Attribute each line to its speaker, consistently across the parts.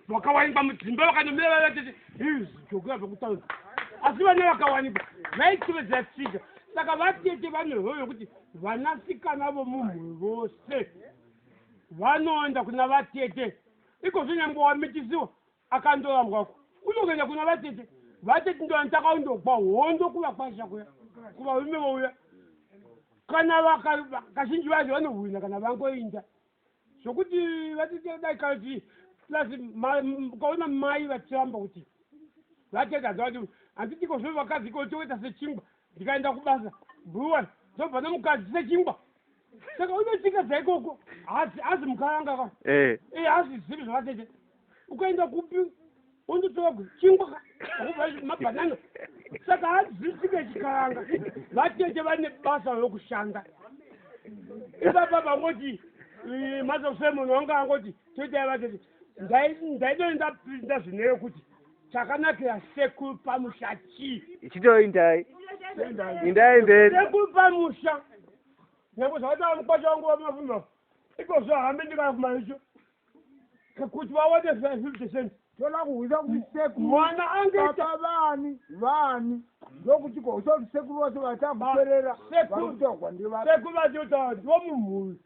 Speaker 1: vakawanikwa mudzimba vakanomira vachiti zvokuya zvokutaura asi vana vakawanikwa vaitevedzera tsika saka vatete vanehoyo yokuti vanasikana vomumhuri vose vanoenda kuna vatete ikozvo nyangwe wamitisiwa akandoambwako unokuenda kuna vatete vatete ndovanitaka undokwa hondo kuva kwasha kuya kuvarume vouya kana kazhinji vacho vanohwina kana vangoinda zvokuti vatete dai kati plus ukaona mai vachiramba kuti vatete hanzi vati handitiko zvo vakadzi ko toita sechingwa ndikaenda kubasa bruwan ndobva nomukadzi sechingwa saka unotika dzaikoko hazi mukaranga ka eh. eh, hazizivi zvavatete ukaenda kupi wondotora kuchingwa akupa mabhanana saka hadzisike chikaranga vatete vane basa rokushanda ipapa vangoti eh, mazosemon wanga angoti toitai vatete ndaidoni ndapinda zvine yokuti chakanakira sekuru pamusha chii ichitoindai
Speaker 2: indai mberi sekuru pamusha
Speaker 1: nyange zvakataura mukwasha wangu wamafumba ikozvo hambe ndikana kumaricho kuti vaone zvivitation toda kuhwisa
Speaker 3: kuti sekuru mwana angeita
Speaker 1: vani vani
Speaker 3: ndokuti kohwisa kuti sekuru vacho vachakuperera sekutogwa ndivasekuru vachiotaura
Speaker 1: kuti vomumhuri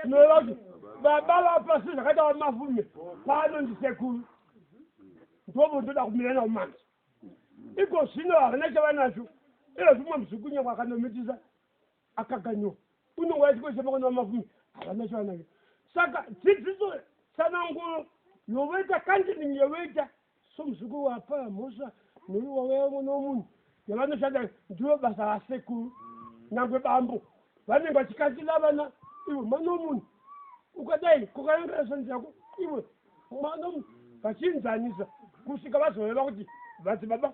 Speaker 1: tinoreva kuti baba vapasi zvakaita vamafume pano ndisekuru ndovo ndoda kumira navo manje iko zvino havana chavanacho iro zvimwe muzvikunyakwa akanomitisa akakanyiwa unenge wachikoshesa pakwana vamafumi havana chavanavyo saka dzidziso tsananguro yovoita kandining yovoita somuzukuru wapa mhosva noyo wavaya mwana womunhu yavanoshanda ndivo basa vasekuru nyangwe bambo vanenge vachikasira vana ivo mwana womunhu ukadai kukayangira shanzi yako ivo mwana vachinzanisa kusvika vazoreva kuti vati baba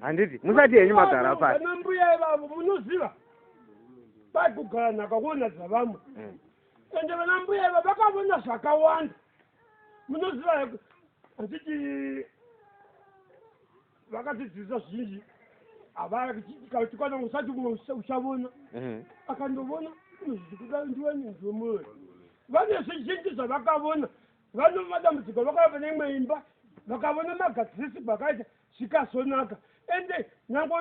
Speaker 2: handiti musati henyu magara pasi vana mbuya ivavo
Speaker 1: munoziva vari kugara nhaka kuona dzavamwe mm. ende vana mbuya iva vakavona zvakawanda munoziva heku handiti vakatidzivisa zvinji havaatikwana usati umwe uchavona mm-hmm. akandovona zvikuda ndiwe nenzomwoyo vane zvizhinji zvavakavona vanova dambudziko vakava pane imwe imba vakavona magadzirisi kwakaita zvikazonaka ende nyangwe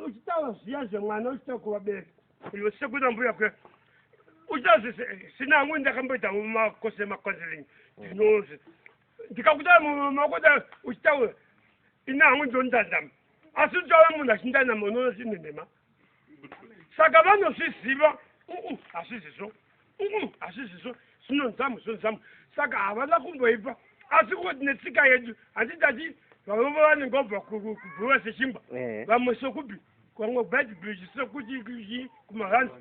Speaker 1: uchitaura zviya zvemwana uchita kuvabereka iwe sekuita mbuya kuya uchita zvisina amwe ndakamboita makose macounseling ndinonzi ndikakuta makoda uchitaura ina amwe ndondandama asi uchitaura munhu achindandama unoona zvinenhema saka vanozviziva hazvizizvo hazvizizvo zvinonzamu zvinonzamu saka havana kumboipa asi koti netsika yedu handitati vavova vanenge vabva kubhuva sechimba vamwe sokupi kwamwe bad bridge sokuti kumahanzi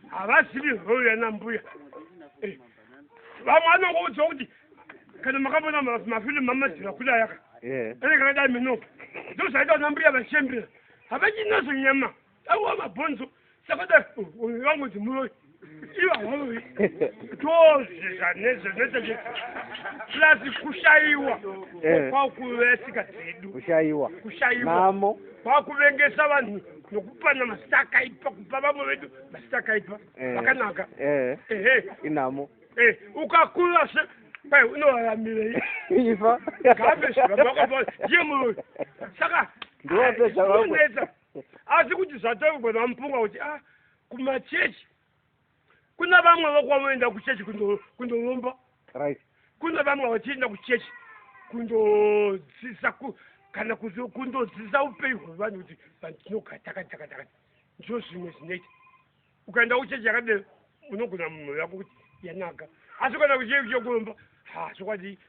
Speaker 1: havazivi hoyo yana mbuya eh, vamwe anongoudzwa kuti kana makambona mafilm mamadzira kudayaka eh. ane kana dai mino ndozvaita vana mbuya vachembera havachinazo nyama awa mabhonzo sakadai vamwe dzimuroi ivahovi tozvizva nezvo zvinoita kuti plasi kushaiwa eh. kwakuve tsika dzedu kushaiwa kushaiwa namo
Speaker 2: kwakuvengesa
Speaker 1: vanhu nokupana mazita akaipa kupa vamwe vedu mazita akaipa eh, vakanaka eh, ehe
Speaker 2: inhamo eh,
Speaker 1: ukakura se kwai unoraramire ifa
Speaker 2: gabeshi vamwe vakapaa
Speaker 1: ndiye muroyi saka ndiwapezvaunetsa
Speaker 2: asi
Speaker 1: kuti zvatongwa vamupunga kuti a ah, kumachechi Kuna vamwe vakwavoenda kuchechi kundolomba. Right. Kuna vamwe vachienda kuchechi kundodzisa kana kuti kundodzisa upenyu hwevanhu kuti vanhu tinogara takati takati takati ndizvo zvimwe zvinoita ukaenda kuchechi yakadero unogona munhu yako kuti yanaka asi ukaenda kuchechi chekuromba ha chokwadi